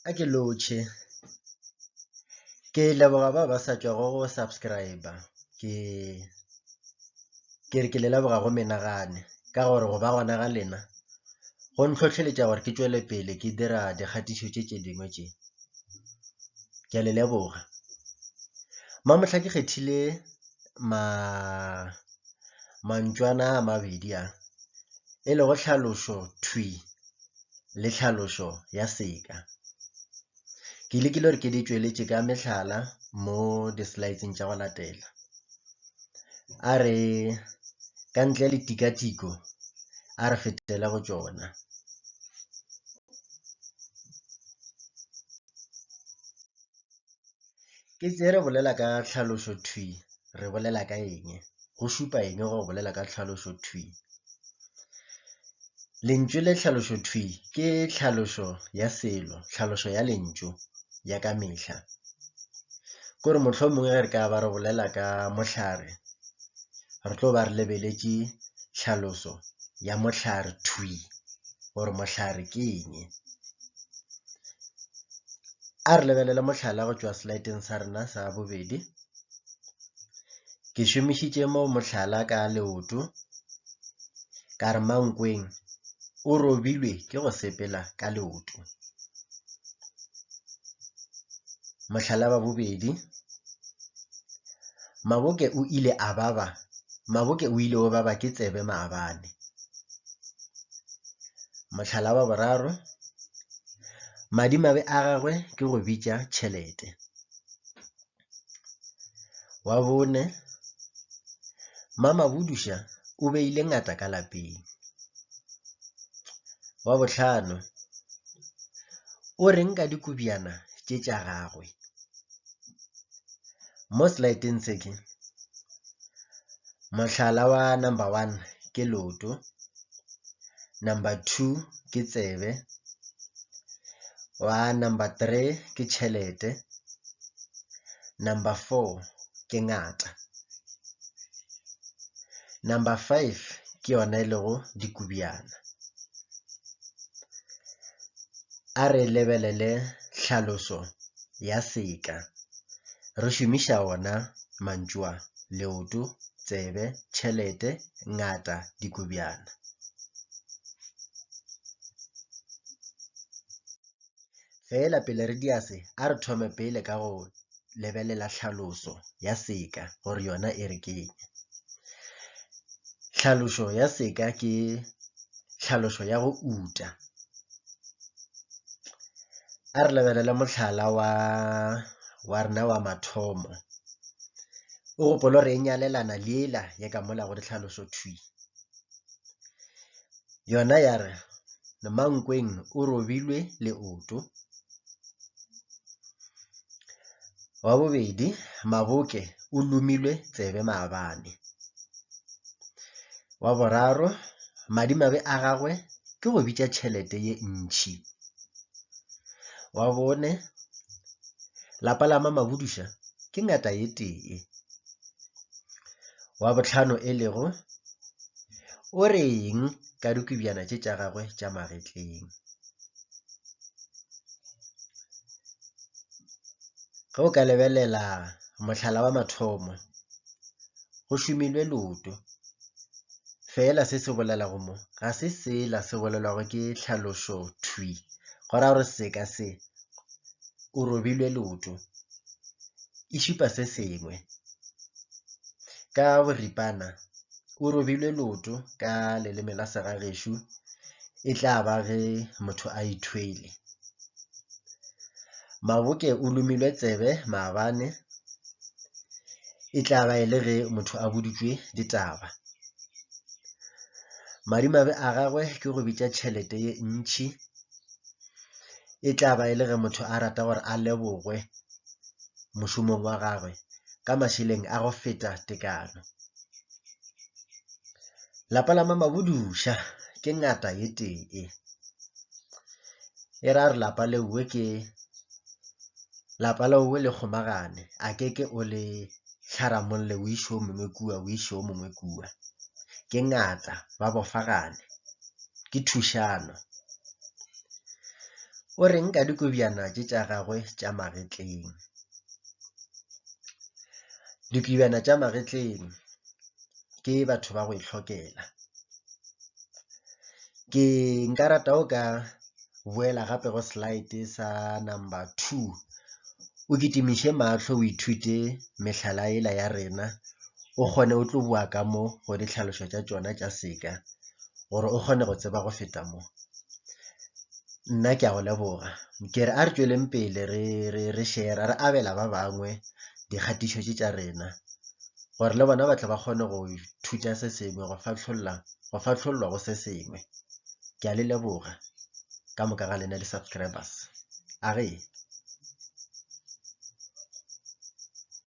a ke lotšhe ke leboga ba ba sa tšwago go subscribe ke ke re ke le leboga go menagane ka gore go ba gona ga lena go ntlhotlheletša gore ke tšwele pele ke dira dikgatišo tše tše dingwe tše ke a le leboga mamotlha ke kgethile ma mantšwana a mabedi a e lego tlhalošo thwi le tlhalošo ya seka. Ke lekile gore ke di tšweletše ka mehlala mo di-slides-ing tša go latela. A re ka ntle le tikatiko a re fetele go tšona. Ke tse re bolela ka tlhalošo thwi re bolela ka eng, go šupa eng go bolela ka tlhalošo thwi. Lentšu le tlhalošo thwi ke tlhalošo ya selo, tlhalošo ya lentšu ya ka mehla. Ko re mohlomongwe ge re ka ba re bolela ka mohlare, re tlo ba re lebeletše tlhaloso ya mohlare thwi gore mohlare ke eng. A re lebelele mohlala go tšwa selaeteng sa rena sa bobedi. Ke šomišitše mo mohlala ka leoto ka re Mankweng o robilwe ke go sepela ka leoto. Mohlala wa bobedi, Maboke o ile a baba Maboke o ile o baba ke tsebe maabane. Mohlala wa boraro, Madimabe a gagwe ke go bitša tšhelete. Wa bone, Mamabuduša o beile ngata ka lapeng. Wa bohlano, o reng ka dikobjana tše tša gagwe. Mo slideng se ke, mohlala wa number one ke loto, number two ke tsebe, wa number three ke tšhelete, number four ke ngata, number five ke yona e lego dikobjana. A re lebelele tlhaloso ya seka re šomiša ona mantšu a, leoto, tsebe, tšhelete, ngata dikobjana. Feela pele re dia se, a re thome pele ka go lebelela tlhaloso ya seka gore yona e re keng. Tlhaloso ya seka ke tlhaloso ya go uta. A re lebelele mohlala wa rena wa mathomo. O gopola gore e nyalelana le yela ya ka mola go ditlhaloso thwi. Yona ya re, Nomankweng o robilwe leoto. Wa bobedi, Maboke o lomilwe tsebe maabane. Wa boraro, madimabe a gagwe ke go bitša tšhelete ye ntšhi. Wa bone, Lapa la Mamabuduša ke ngata ye tee. Wa bohlano e lego, o re eng ka dikobjana tše tša gagwe tša magetleng? Ge o ka lebelela mohlala wa mathomo, go šomilwe loto. Fela se se bolelago mo ga se sela se bolelwago ke tlhalošo thwi go ra gore seka se o robile leoto, e šupa se sengwe. Ka boripana, o robile leoto ka leleme la segagešo e tla ba ge motho a ithwele. Maboke o lomilwe tsebe maabane e tla ba e le ge motho a boditšwe ditaba. Madimabe a gagwe ke go bitša tšhelete ye ntšhi. e tla ba e le ge motho a rata gore a lebogwe mošomong wa gagwe ka mašeleng a go feta tekano. Lapa la mamaboduša ke ngata ye tee e ra re lapa lewe ke lapa lewe le kgomagane a ke ke o le tlharamolle o išo mongwe kua o išo mongwe kua ke ngata ba bofagane. ke thušano. O reng ka dikobjana tše tša gagwe tša magetleng? Dikobjana tša magetleng ke batho ba go itlhokela. Ke nka rata o ka boela gape go slide sa number two o kitimiše mahlo o ithute mehlala ela ya rena o kgone o tlo bua ka mo go ditlhalošo tša tšona tša seka. gore o kgone go tseba go feta mo nna ke a go leboga kere a re tšweleng pele re re re shera re abela ba bangwe dikgatišo tše tša rena gore le bona ba tle ba kgone go thuta se sengwe go fatlholla go fatlhollwa go se sengwe ke a le leboga ka moka ga lena di-subscribers a re